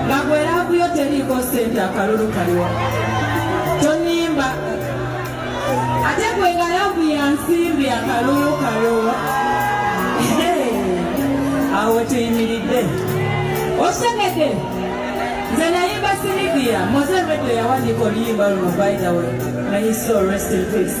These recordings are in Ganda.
Lagwe laavu yo teriiko ssente akalulu kaliwa? Tonimba. Ate gwe nga laavu ya nsimbi akalulu kaliwa? Awo tuyimiridde. Osengedde. Nze nayimba Sylvia, Mose Redo yawandiika oluyimba luno by the way. May his soul rest in peace.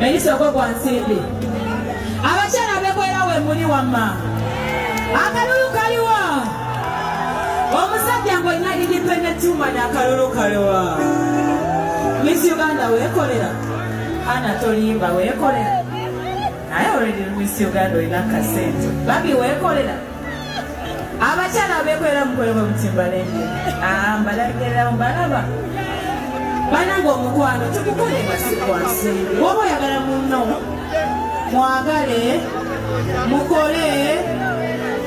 Enisoko gwa nsimbi. Abakyala bekoera we muli wamma. Akalulu kaliwa. Omusajja ng'olina independent woman akalulu kaliwa. Miss Uganda weekolera. Ana tolimba weekolera. Naye already Miss Uganda olina kasente. Babi weekolera. abakyala abekolera mukole bwe mutimbalenge ah, mbalagererawo mbalaba banange omukwano tekukolenga sikwansi woba oyagala munno mwagale mukole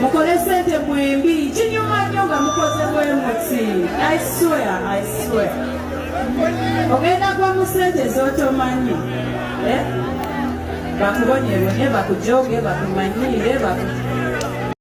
mukole sente mwembi kinyuma nyo nga mukoze bwemuti ogenda gwa mu sente zotomanyi eh? bakubonyebonye bakujoge bakumanyiire